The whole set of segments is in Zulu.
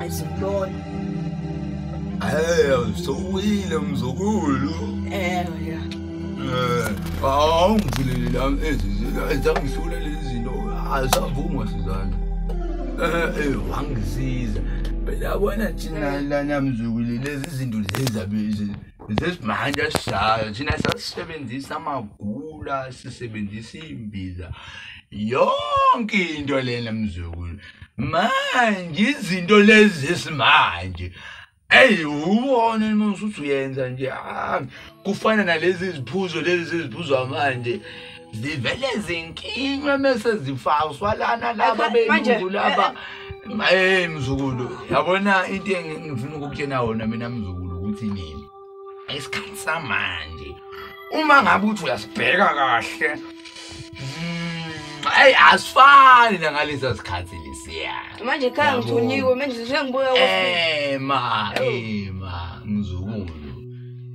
Ayizibona. Hey, msowile mzukulu. Eh, ya. Eh, awu ngivulele la ezi ezangisula lezi zinto. Azavuma sizana. Eh, eh, wangisiza. Phela bona thina lana mzukulu lezi zinto lezi zabizi. zesimanje asishayo thina sasisebenzisa amagula sisebenzisa iy'mbiza yonke into lena mzukulu manje izinto lezi esimanje eyi ubone musa uthi uyenza nje ah, kufana nalezi ziphuzo lezi seziphuzwa manje zivele zinkinywe mese zifaswa lana laba belungu laba eh, eh. eh mzukulu yabona into engifuna ukukutshena wona mina mzukulu ukuthi nini isikhathi samanje uma ngabe uthi uyasibheka kahle ayi mm, asifani nangalesa sikhathi lesiya manje khaya ngithunyiwe manje sengibuya ema ema mzukulu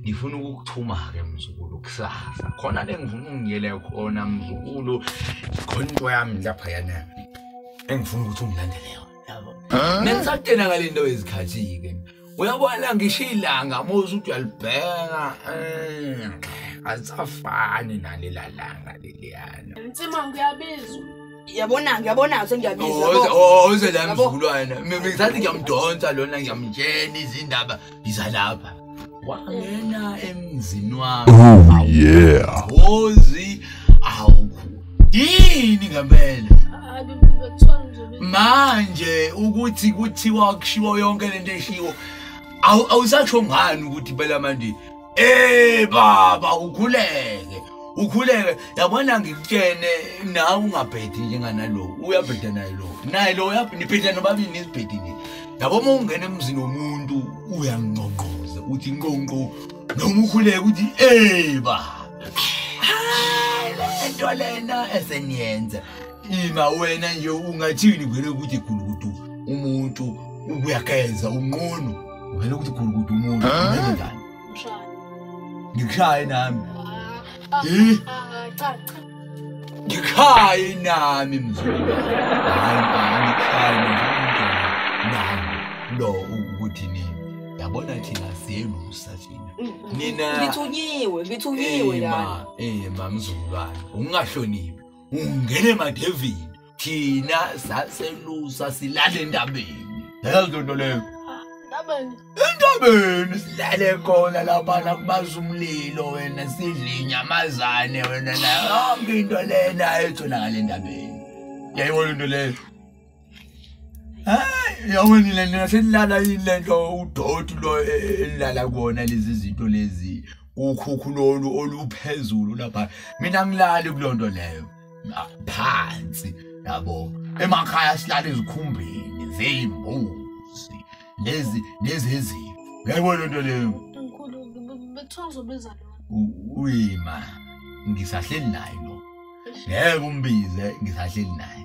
ngifuna ukukuthuma-ke mzukulu kusasa khona le ngifuna ungiyele khona mzukulu khona into yami lapha yana engifuna ukuthi ungilandele yona yabo nengisatena ngale nto yezikhathi-ke uyabona ngisho ilanga muzi ukuthi uyalibheka eh, asafani nalela langa leliyana mtsima ngiyabizwa yabona ngiyabona sengiyabizwa oh, oh, oh, oze la mzukulwana ngithathi ngiyamdonsa lona ngiyamtshela izindaba yiza lapha wangena emzini wami oh yeah ozi awukho yini ngempela manje ukuthi kuthiwa kushiwo yonke lento eshiwo awusasho ngani ukuthi phela manje eh baba ukhuleke ukhuleke yabona ngikutshene nawe ungabhedi njenganalo uyabheda naye lo naye lo nibheda nobabili nizibhedi nje yabo uma ungena emzini womuntu uyangqongqoza uthi nqonqo noma ukhuleke uthi eh baba lento lena eseniyenza ima wena nje ungathini vele ukuthi gulukudu umuntu uyakenza unqunu vele ukuthi gulukudu umuntu njani ngikushaye nami ngikushaye nami mzulu Nina- ngithunyiwe ngithunyiwe Eh, la ma- eh ma mzulwane ungahloniphi ungene emadevini thina saselusa silale entabeni lezo nto leyo Ndabeni. entabeni silale khona laphana kubaza umlilo wena sidle inyamazane wena nayo yonke into lena etholakala entabeni yayibona into leyo hayi yawini le nto senilala yini le nto udoti lo e, e, elilala kona lezi zinto lezi ukhukhu lolu oluphezulu lapha mina ngilali kuloo nto leyo phansi yabo emakhaya silala ezikhumbini zeyimbuzi lezi lezi ezimvu yayibona loo nto leyo uyima ngisahleli naye lo ngeke umbize ngisahleli naye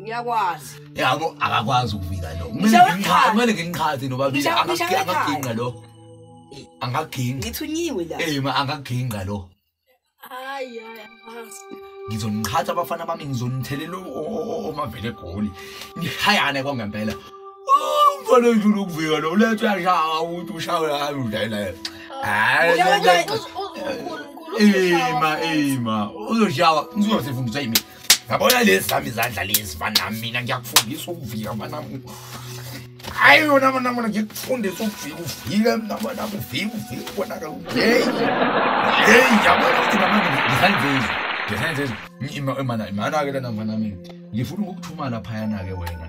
ngiyakwazi yabo akakwazi ukuvika lo kumele ngingiqhathe nobabili angaginqa lo angaginqa ngithunyiwe la eh ma angaginqa lo hayi hayi ngizoniqhatha abafana bami ngizonithelela omavele egoli ngihayane kwangempela umfana ojula ukuvika lo ulethe uyashawa ukuthi ushawe hayi udlayela yena hayi ima ima uzoshawa ngizosifundisa yimi yabona lezi zami izandla lezi banami mina ngiyakufundisa ukuvika banami hayi yona banamona ngikufundisa ukuvika uvike mnabona uvike uvike ubonakala hey hey yabona ukuthi namanje ngisanzizwa ngisanzizwa imana imana-ke lena mfanami ngifuna ukukuthumala phayana-ke wena